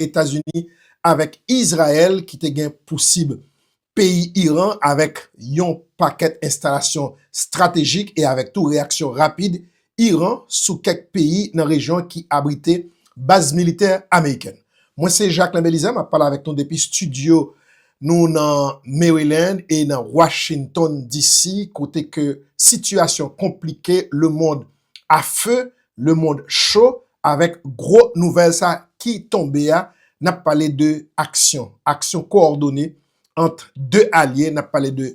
Etazini avèk Izrayèl ki te gen pousib peyi Iran avèk yon pakèt enstalasyon stratejik e avèk tou reyaksyon rapid Iran sou kèk peyi nan rejyon an ki abrite baz militè amerikèn. Mwen se Jacquelin Belizaire, m ap pale avèk nou depi studio nou nan Maryland e nan Washington DC, kote ke sitiyasyon konplike, lemond a feu, lemond cho, avèk gwo nouvèl sa ki tonbe a, n ap pale de aksyon, aksyon koòdone ant 2 alye, n ap pale de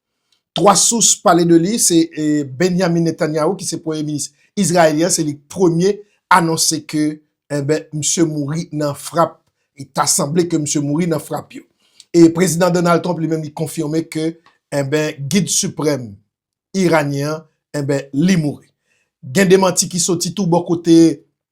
3 sous pale de li se Benyamin Netanyahu ki se premye minis Izraelyen se li ki premye anonse ke enben misye mouri nan frap e ta sanble ke misye mouri nan frap yo. E prezidan Donald Trump li menm li konfime ke enben gid siprèm Iranyen an enben li mouri. Gen demanti ki soti tou bò kote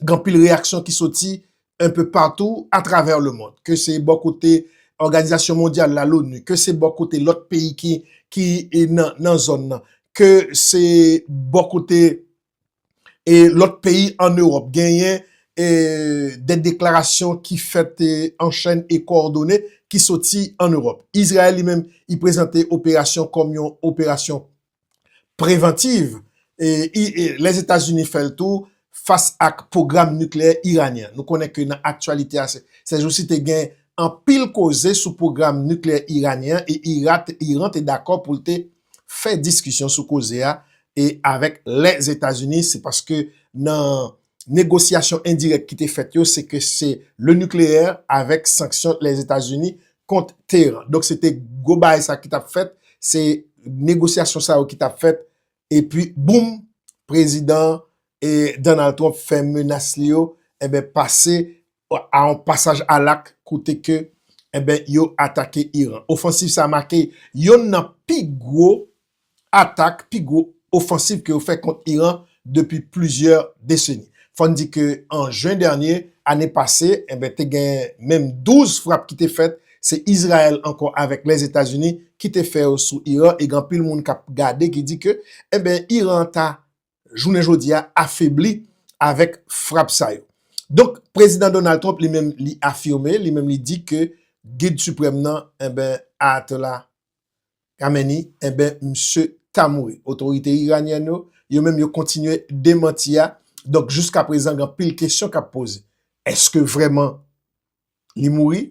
gen anpil reyaksyon ki soti enpe patou atravè lemond. Ke se bò kote Òganizasyon Mondyal la, Loni, ke se bò kote lòt peyi ki nan zòn nan, ke se bò kote lòt peyi an Ewòp, genyen de deklarasyon ki fèt an chèn e kowòdone ki soti an Ewòp. Izrayèl li menm, li prezante operasyon kòm yon operasyon prevantiv Lèzetazini fè l tou fas ak pwogram nikleyè iranyen an. Nou konnen ke nan aktyalite a sèjousi te gen anpil koze sou pwogram nikleyè iranyen an e Iran te dakò pou l te fè diskisyon sou koze a avèk Lèzetazini se paske nan negosyasyon endirèk ki te fèt yo, se ke se le nikleyè avèk sanksyon Lèzetazini kont Teyeran. Donk se te gwo bagay sa ki t ap fèt, se negosyasyon sa yo ki t ap fèt, epi boum, prezidan Donald Trump fè menas li yo, enben pase a yon pasaj al ak kote ke enben yo atake Iran. Ofansiv sa make yonn nan pi gwo atak, pi gwo ofansiv ke yo fè kont Iran depi plizyè deseni. Fò n di ke an jen dènye, ane pase, enben te gen menm 12 frap ki te fèt, se Izrayèl ankò avèk Lèzetazini ki te fè yo sou Iran e gen anpil moun k ap gade ki di ke enben Iran ta jounen jodi a afebli avèk frap sa yo. Donk, Prezidan Donald Trump li menm li afime, li menm li di ke Gid Siprèm nan, enben, Ayatollah Khamenei, enben, misye ta mouri. Otorite iranyèn yo, yo menm yo kontinye demanti a. Donk, jiska prezan gen anpil kesyon k ap poze. Eske vrèman li mouri?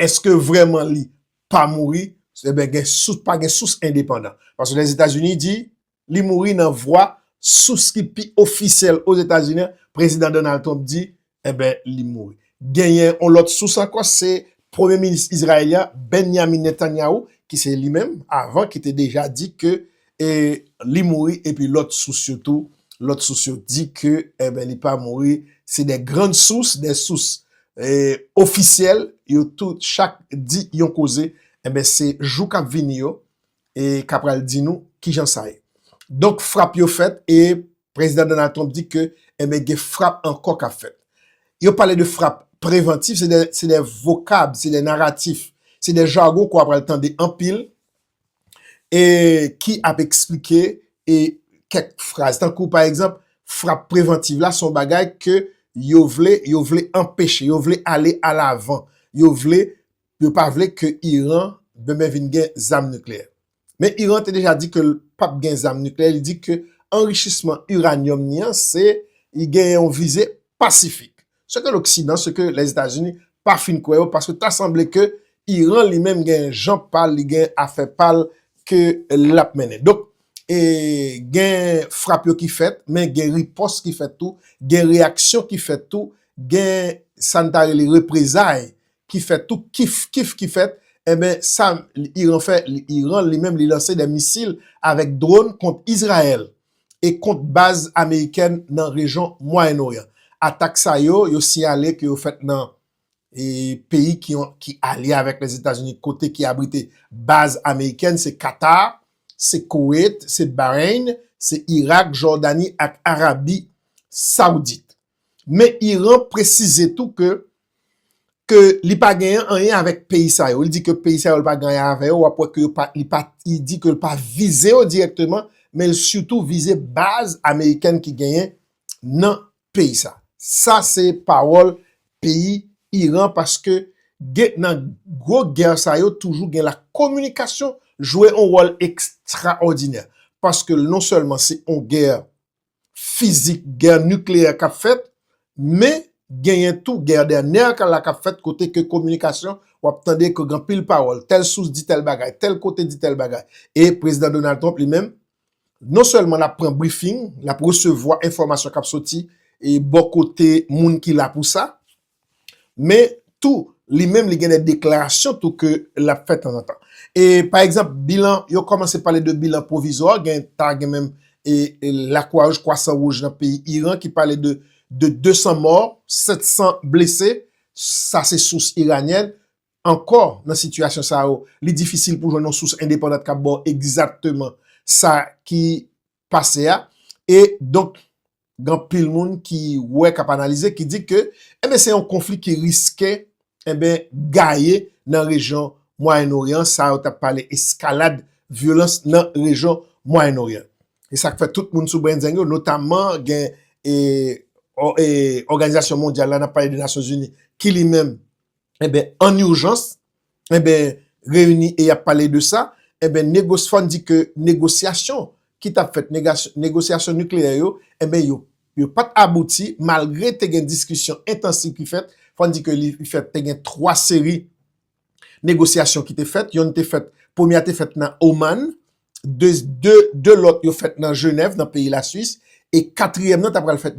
Eske vrèman li pa mouri? Enben, gen sous, pa gen sous endepandan. Paske Lèzetazini di, li mouri nan vwa sous ki pi ofisyèl Ozetazini an, Prezidan Donald Trump di, enben li mouri. Genyen yon lòt sous ankò, se Premye Minis Izrayelyen an, Benyamin Netanyahu, ki se li menm avan ki te deja di ke li mouri epi lòt sous yo tou, lòt sous yo di ke enben li pa mouri, se de grann sous, de sous ofisyèl, yo tout chak di yon koze, enben se jou k ap vini yo, e ka pral di nou kijan sa ye. Donk frap yo fèt e Prezidan Donald Trump di ke enben eh gen frap ankò kap fèt. Yo pale de frap prevantif, se de vokab, se de naratif, se de jargon ke w apral tande anpil e ki ap eksplike e kèk fraz. Tankou pa egzanp, frap prevantif la son bagay ke yo vle, yo vle anpeche, yo vle ale alavan, yo vle Yo pa vle ke Iran demen vin gen zam nikleyè. Men Iran te deja di ke l pap gen zam nikleyè, li di ke anrichisman uranium ni an se li gen yon vize pasifik. Se ke loksidan, se ke Lèzetazini pa fin kwè yo paske ta sanble ke Iran li menm gen jan pa l, li gen afè pa l ke l ap mennen. Donk e gen frap yo ki fèt men gen ripòs ki fèt tou, gen reyaksyon ki fèt tou, gen sa n ta rele reprezay ki fèt tou kif kif ki fèt enben sa Iran fè Iran li menm li lanse 2 misil avèk drone kont Izrayèl e kont baz amerikèn nan rejyon Mwayen Oryan. Atak sa yo, yo siyale ke yo fèt nan e peyi ki yon ki alye avèk Lèzetazini kote ki abrite baz amerikèn se Katar, se Koweit, se Bahrein, se Irak, Jordani ak Arabi Saoudite. Men Iran presize tou ke ke li pa genyen anyen avèk peyi sa yo. Li di ke peyi sa yo li pa gen anyen avè yo, w ap wè ke yo pa, li pa, li di ke li pa vize yo dirèkteman, men li sitou vize baz amerikèn ki genyen nan peyi sa. Sa se pawòl peyi Iran paske gen nan gwo gè sa yo toujou gen la kominikasyon jwe yon wòl ekstraòdinè. Paske non sèlman se yon gè fizik gè nikleyè kap fèt men genyen tou gè dè nèk la kap fèt kote ke kominikasyon wap tande ke gen anpil pawòl tèl sous di tèl bagay tèl kote di tèl bagay e prezidan Donald Trump li menm non sèlman lap pran brifing lap resevwa enfòmasyon kap soti e bò kote moun ki la pou sa. Men tou li menm li gen de deklarasyon tou ke lap fè tanzantan. E pa egzanp bilan, yo kòmanse pale de bilan pwovizwa, gen ta gen menm lakwawouj, kwasan wouj nan peyi Iran ki pale de 200 mò, 700 blese, sa se sous iranyèn. Ankò nan sitiyasyon sa yo, li difisil pou jwenn yon sous endepandan kap baw egzatteman sa ki pase a, e donk gen anpil moun ki wè, k ap analize, ki di ke, enben se yon konfli ki riske, enben eh gaye nan rejyon Mwayen Oryan, sa yo t ap pale eskalad vyolans nan rejyon Mwayen Oryan. E sa k fè tout moun sou brenzeng yo, notamman gen e òganizasyon mondyal la, n ap pale de Nasyonzini, ki li menm, enben an urjans, enben reyini e y ap pale de sa, enben Negosfon di ke negosyasyon ki t ap fèt, negosyasyon nikleyè yo, enben yo yo pa t abouti malgre te gen diskisyon entansif ki fèt, fò n di ke li fèt te gen 3 seri negosyasyon ki te fèt, yonn te fèt, premye a te fèt nan Oman, 2 lòt yo fèt nan Jenèv nan peyi la Swis e katriyèm nan ta pral fèt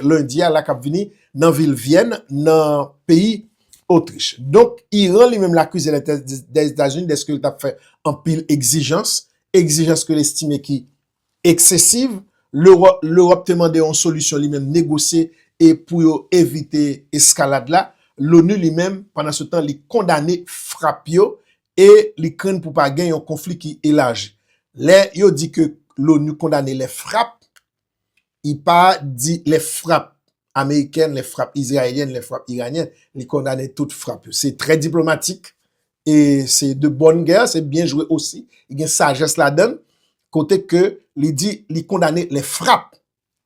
lendi a la k ap vini nan vil Vyèn nan peyi Otrich. Donk Iran li menm l akize Lèzetazini dèske l t ap fè anpil egzijans, egzijans ke l estime ki eksesiv. Lewòp te mande yon solisyon li menm negosye e pou yo evite eskalad la. Loni li menm pandan se tan li kondane frap yo e li krenn pou pa gen yon konfli ki elaji. Lè yo di ke l'ONU kondane lè frap, li pa di lè frap amerikèn, lè frap izrayelyèn, lè frap iranyen, li kondane tout frap yo. Se trè diplomatik, e se de bòn gè, se byen jwe osi, gen sajès ladann, kote ke li di li kondane lè frap,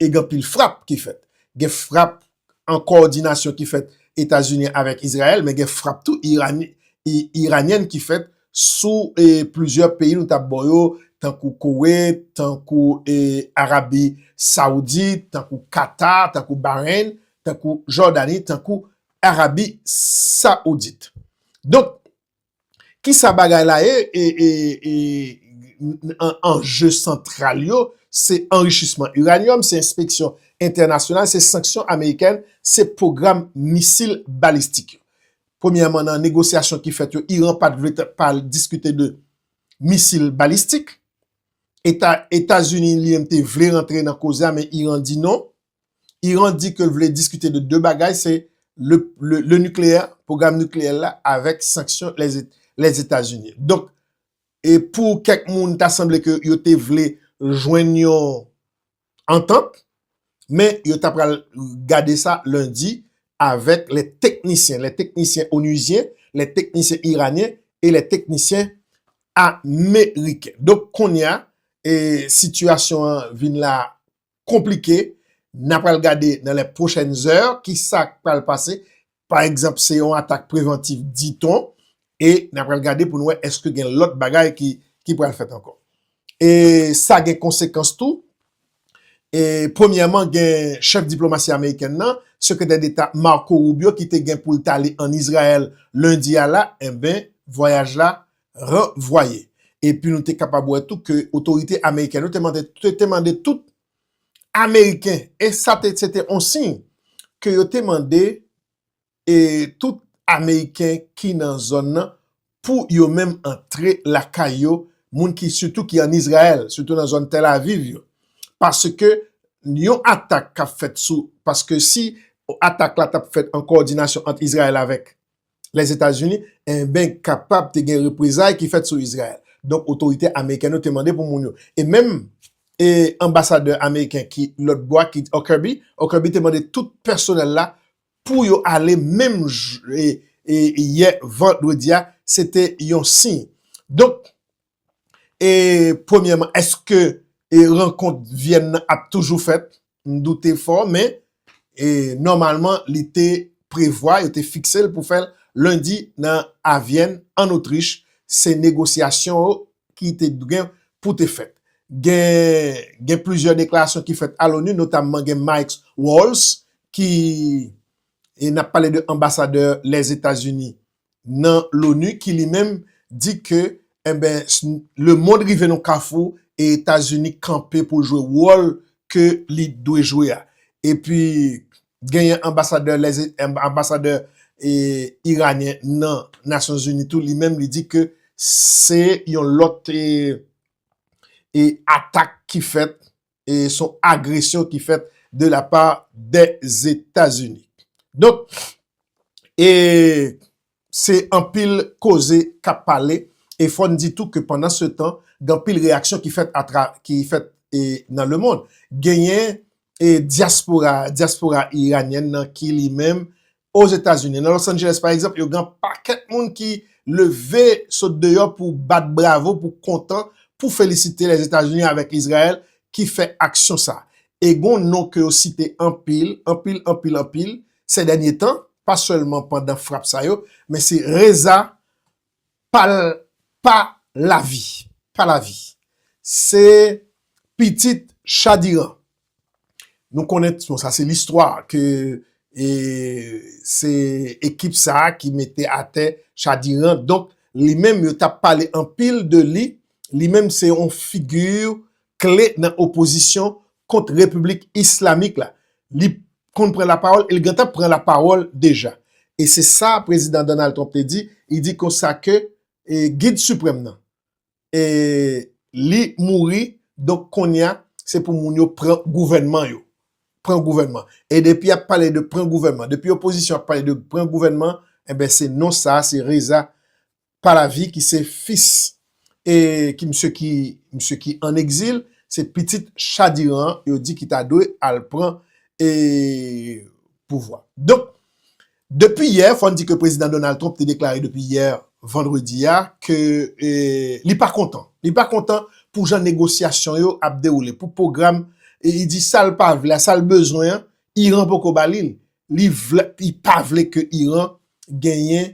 e gen pil frap ki fèt. Gen frap an kowòdinasyon ki fèt Etazini avèk Izrayèl, men gen frap tou Iranyen ki fèt sou plizyè peyi nou tap baw yo, tankou Koweit, tankou Arabi Saoudit, tankou Katar, tankou Bahrein, tankou Jordani, tankou Arabi Saoudit. Donk, Kisa bagay la ye e anje santral yo se anrichisman uranyòm, se enspeksyon entènasyonal, se sanksyon amerikèn, se pwogram misil balistik yo. Premyèman nan negosyasyon ki fèt yo, Iran pat vle pale diskite de misil balistik. Etazini li menm te vle rantre nan koze a men Iran di non. Iran di ke l vle diskite de 2 bagay se le nucleaire, pwogram nucleaire la avèk sanksyon Lèzetazini. Donk, e pou kèk moun ta sanble ke yo te vle jwenn yon antant, men yo ta pral gade sa lendi avèk lè teknisyen, lè teknisyen onizyen, lè teknisyen iranyen e lè teknisyen ameriken. Donk, kounye a, e sitiyasyon an vin la konplike, n a pral gade nan lè pwochèn zè ki sa k pral pase, pa egzanp se yon atak prevantif diton, e n a pral gade pou n wè èske gen lòt bagay ki pral fèt ankò. E sa gen konsekans tou, e premyèman gen chèf diplomasi amerikèn nan, sekretè deta Marco Rubio ki te gen pou l t ale ann Izrayèl lendi a la, enben vwayaj la ranvwaye. Epi nou te kapab wè tou ke otorite amerikèn yo te mande tout ameriken, e sa te se te yon siy ke yo te mande e tout ameriken ki nan zòn nan pou yo menm antre lakay yo, moun ki sitou ki an Izrayèl, sitou nan zòn Tel Aviv yo. Paske yon atak kap fèt sou, paske si atak la tap fèt an kowòdinasyon ant Izrayèl avèk Lèzetazini, enben kapab te gen reprezay ki fèt sou Izrayèl. Donk otorite amerikèn yo te mande pou moun yo, e menm anbasadè ameriken ki lòt bò a ki Huckerby, Huckerby te mande tout pèsonèl la pou yo ale menm yè vandredi a, se te yon siy. Donk, E premyèman eske e rankont Vyèn nan ap toujou fèt? M doute fò men e nòmalman li te prevwa, yo te fikse l pou fè l lendi nan a Vyèn an Otrich. Se negosyasyon yo ki te gen pou te fèt. Gen gen plizyè deklarasyon ki fèt a l'ONU notamman gen Mike Walls ki e n ap pale de anbasadè Lèzetazini nan l'ONU ki li menm di ke enben le mond rive nan kafou e Etazini kanpe pou l jwe wòl ke li dwe jwe a. Epi genyen anbasadè lèze anbasadè e iranyen nan Nasyon Zini tou li menm li di ke se yon lòt e e atak ki fèt e son agresyon ki fèt de la pa de Zetazini. Donk, e se anpil koze kap pale, e fò n di tou ke pandan se tan, gen anpil reyaksyon ki fèt atra, ki fèt e nan le mond. Genyen e dyaspora, dyaspora iranyèn nan ki li menm Ozetazini, nan Los Angeles pa egzanp, yo gen yon pakèt moun ki leve sot deyò pou bat bravo, pou kontan, pou felisite Lèzetazini avèk Izrayèl ki fè aksyon sa. E gen yon non ke yo site anpil, anpil, anpil, anpil, sèdènye tan, pa sèlman pandan frap sa yo, men se Reza Pal pa lavi pa lavi se pitit chadiran nou konnen bon sa se listwa ke e se ekip sa ki mete atè chadiran donk li menm yo tap pale anpil de li li menm se yon figure kle nan opozisyon kont Repiblik Islamik la. Li konn pran lapawòl e li gentan pran lapawòl deja. E se sa Prezidan Donald Trump te di, li di konsa ke Gid Siprèm nan, li mouri, donk kounye a, se pou moun yo pran gouvènman yo. Pran gouvènman. E depi y ap pale de pran gouvènman, depi opozisyon ap pale de pran gouvènman, enben se non sa a, se Reza Pahlavi ki se fis e ki misye ki misye ki an egzil se pitit Cha di Iran an yo di ki ta dwe al pran e pouvwa. Donk depi yè fò n di ke Prezidan Donald Trump te deklare depi yè vandredi a ke e li pa kontan li pa kontan pou jan negosyasyon yo ap dewoule pou pwogram e li di sa l pa vle a sa l bezwen an Iran poko ba li l li vle li pa vle ke Iran genyen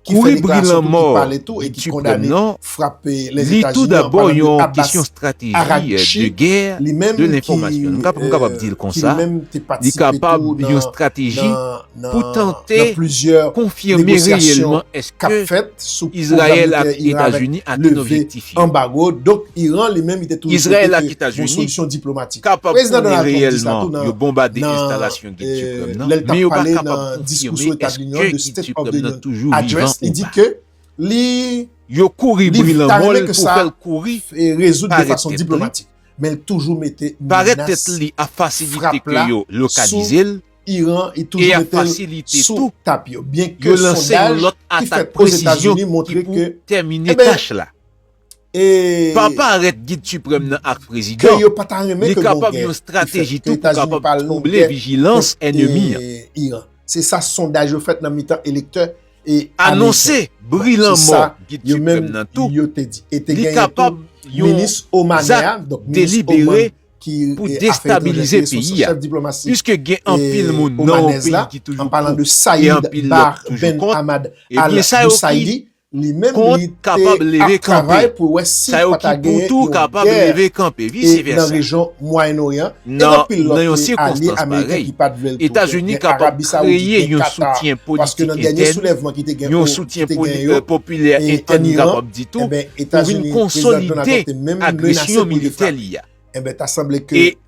Kouri bri lanmò li tu prèm non, li tou dabò yon kesyon strateji de gè, de lenfòmasyon. Nou kapab m kapab di l konsa, li kapab yon strateji pou tante konfime reyèlman eske Izrayèl ak Etazini atenn objektif yo. Izrayèl ak Etazini kapab konnen reyèlman yo bonbade enstalasyon. lè li tap pale nan diskou sou Etat de l'Union, the State of the Union Address, li di ke li ta renmen ke sa rezoud de fason diplomatik, men li toujou mete menas frap la sou Iran, li toujou mete l sou tap yo, byen ke sondaj ki fèt Ozetazini montre ke, enben, Pa parèt Gid Siprèm nan ak Prezidan, li kapab yon strateji tou pou kapab twouble vijilans ènemi an. Anonse bri lanmò Gid Siprèm nan tou, li kapab yon zak delibere pou destabilize peyi a. Piske gen anpil moun nan yon peyi ki toujou pou e anpil lòt ki toujou kont, ebyen sa yo ki Kont kapab leve kanpe. Sa yo ki pou tou kapab leve kanpe, vise vèsa. Nan yon sikonstans parèy, Etazini kapab kreye yon soutyen politik entèn, yon soutyen popilè entèn m kapab di tou, pou vin konsolide agresyon militè li a. E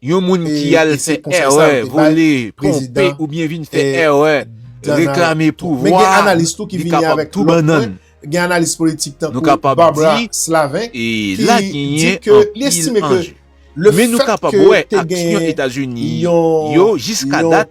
Yon moun ki al fè èrè, vole, twonpe oubyen vin fè èrè, reklame pouvwa, li kapab tou bannann. Nou kapab di, e la genyen anpil anje. Men nou kapab wè aksyon Etazini yo jiska dat.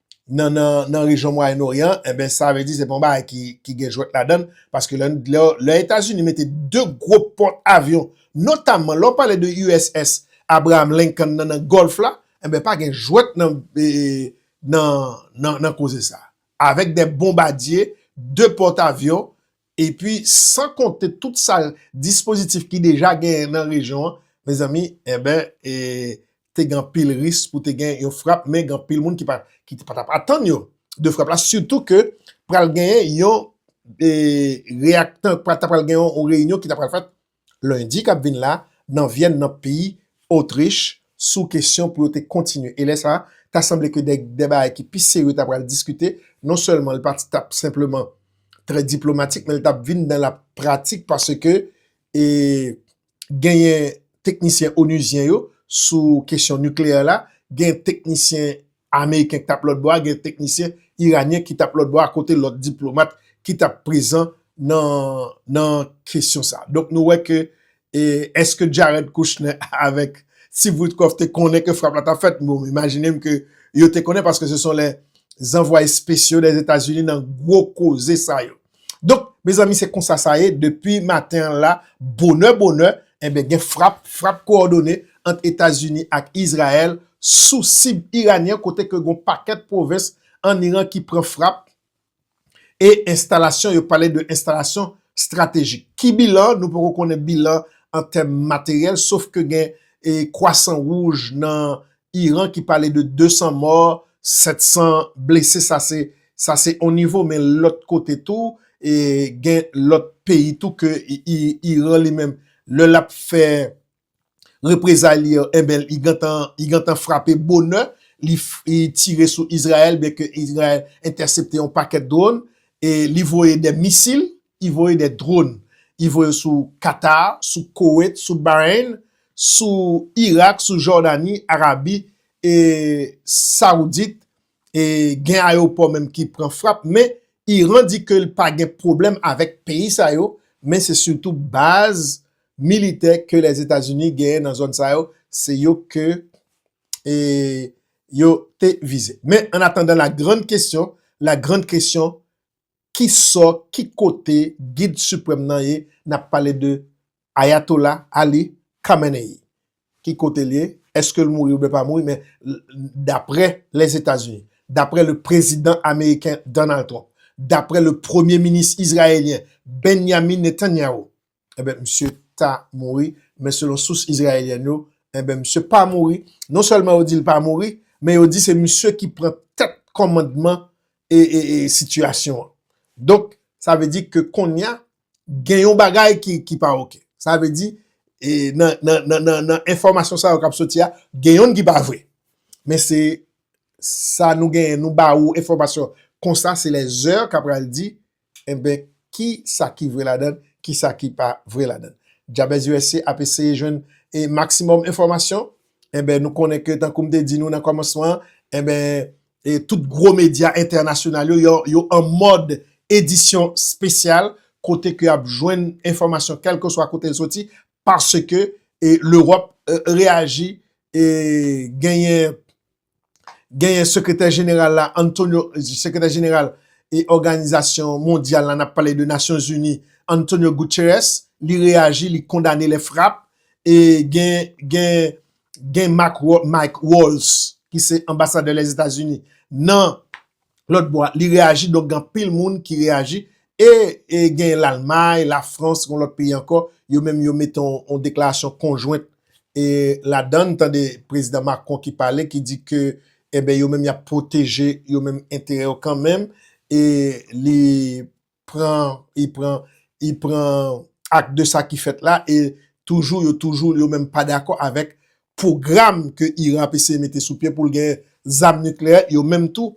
nan nan nan rejyon mwayen oryan enben sa vle di se pa yon bagay ki ki gen jwèt ladann paske lè lè lè etazini mete 2 gwo pòt avyon notamman lè w pale de USS Abraham Lincoln nan nan gòlf la enben pa gen jwèt nan nan nan koze sa avèk 2 bonbadye 2 pòt avyon Epi san konte tout sa dispozitif ki deja genyen nan rejyon an, mezanmi, enben, e te gen anpil risk pou te gen yon frap, men gen anpil moun ki pa t ap atann yo de frap la, sitou ke pral genyen yon reyaktan, ta pral gen yon reyinyon ki ta pral fèt lendi k ap vin la nan Vyèn nan peyi Otrich sou kesyon pou yo te kontinye e lè sa ta sanble ke de bagay ki pi serye ta pral diskite non sèlman l pa t ap senpleman trè diplomatik men l t ap vin nan la pratik paske e genyen teknisyen onizyen yo sou kesyon nikleyè la genyen teknisyen Ameriken ki t ap lòt bò a, gen teknisyen iranyen ki t ap lòt bò a akote lòt diplomat ki t ap prezan nan kesyon sa. Donk nou wè ke eske Jared Kushner avèk Steve Witkoff te konnen ke frap la t ap fèt? Bon, m imajine m ke yo te konnen paske se son lè zanvwa espesyo Dèzetazini nan gwo koze sa yo. Donk mezanmi se konsa sa ye depi maten an la bonè bonè enben gen frap, frap kowòdone ant Etazini ak Izrayèl sou sib iranyen kote ke gon pakèt pwovens an Iran ki pran frap e enstalasyon yo pale de enstalasyon stratejik. Ki bilan? Nou poko konnen bilan an tèm materyèl sof ke gen kwasan wouj nan Iran ki pale de 200 mò, 700 blese sa se sa se yon nivo men lòt kote tou e gen lòt peyi tou ke Iran li menm lè l ap fè reprezay li yo enben li gentan li gentan frape bonè li tire sou Izrayèl byenke Izrayèl entèsepte yon pakèt dwòn e li voye de misil I voye des drones. I voye sou Qatar, sou Koweït, sou Bahrein, sou Irak, sou Jordanie, Arabie Saoudite. E gen aeroport menm ki pran frap. Men Iran di ke li pa gen pwoblèm avèk peyi sa yo. Men se sitou baz militè ke les Etats-Unis genyen nan zòn sa yo. Se yo ke yo te vize. Men an atandan la grande question, la grande question, ki sò, ki kote gid siprèm nan ye, n ap pale de Ayatola Ali Khamenei. Ki kote l ye, eske l mouri oubyen pa mouri men daprè Lèzetazini, daprè le prezidan ameriken Donald Trump, daprè le premye minis izrayelyen Benyamin Netanyahu, enben misye ta mouri, men selon sous Izrayelyen yo, enben misye pa mouri, non sèlman yo di l pa mouri, men yo di se misye ki pran tèt kòmandman e sitiyasyon an. Donk, sa vle di ke konnya gen yon bagay ki pa ok. Sa vle di, nan enfòmasyon sa yo kap soti a, gen yonn ki pa vre. Men se sa nou genyen, nou ba ou enfòmasyon konsa, se lè zè kap pral di Enben ki sa ki vre ladan, ki sa ki pa vre ladan. Jabez usa ap eseye jwenn e maksimòm enfòmasyon. Enben nou konnen ke tankou m te di nou nan kòmansman an, enben e tout gwo medya entènasyonal yo, yo yo an mòd edisyon spesyal kote ke y ap jwenn enfòmasyon kèlkeswa kote l soti paske e Lewòp reyaji e genyen genyen sekretè jeneral la Antonio sekretè jeneral e òganizasyon mondyal la nap pale de nasyon zini Antonio Guterres li reyaji li kondane lè frap e gen gen gen Mike Walls ki se anbasadè lèzetazini nan lòt bò a li reyaji donk gen anpil moun ki reyaji e gen Lalmay, Lafrans gon lòt peyi ankò yo menm yo mete yon deklarasyon konjwent e ladan n tande prezidan Macron ki pale ki di ke enben yo menm y ap pwoteje yo menm enterè yo kanmenm e li pran, e pran, e pran ak de sa ki fèt la, e toujou yo toujou yo menm pa dakò avèk pwogram ke Iran ap eseye mete sou pye pou l gen zam nikleyè, yo menm tou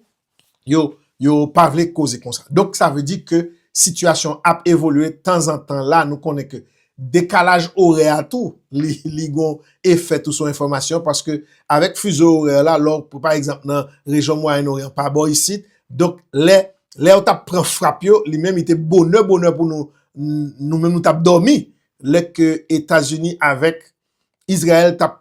yo, yo pa vle koze konsa. Donk sa vle di ke sitiyasyon ap evolye tanzantan la nou konnen ke Dekalaj orè a tou li gon efè tou sou enfòmasyon paske avèk fizo orè la lè w pa egzanp nan rejyon mwayenn oryan pa bò isit donk lè lè yo t ap pran frap yo li menm li te bonè bonè pou nou nou menm nou t ap dòmi lè ke etazini avèk izrayèl t ap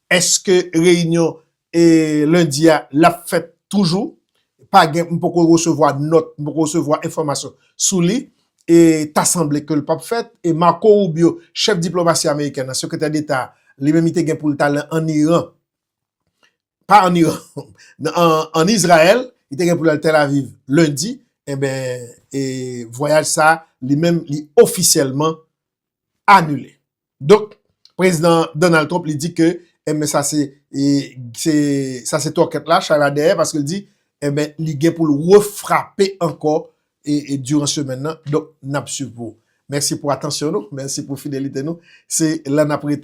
Eske reyinyon lendi a lap fèt toujou? Pa gen, m poko resevwa nòt, m poko resevwa enfòmasyon sou li. E ta sanble ke l pap fèt. E Marco Rubio, chèf diplomasi amerikèn nan, sekretè deta a, li menm li te gen pou l t al an Iran, pa an Iran, an Izrayèl, li te gen pou l al Tel Aviv lendi, enben e vwayaj sa a li menm li ofisyèlman anile. Donk Prezidan Donald Trump li di ke enben sa se sa se twòkèt la, chay la dèyè paske li di enben li gen pou l refrape ankò diran semèn nan. Donk n ap swiv pou ou. Mèsi pou atansyon nou, mèsi pou fidelite nou. Se la n ap rete.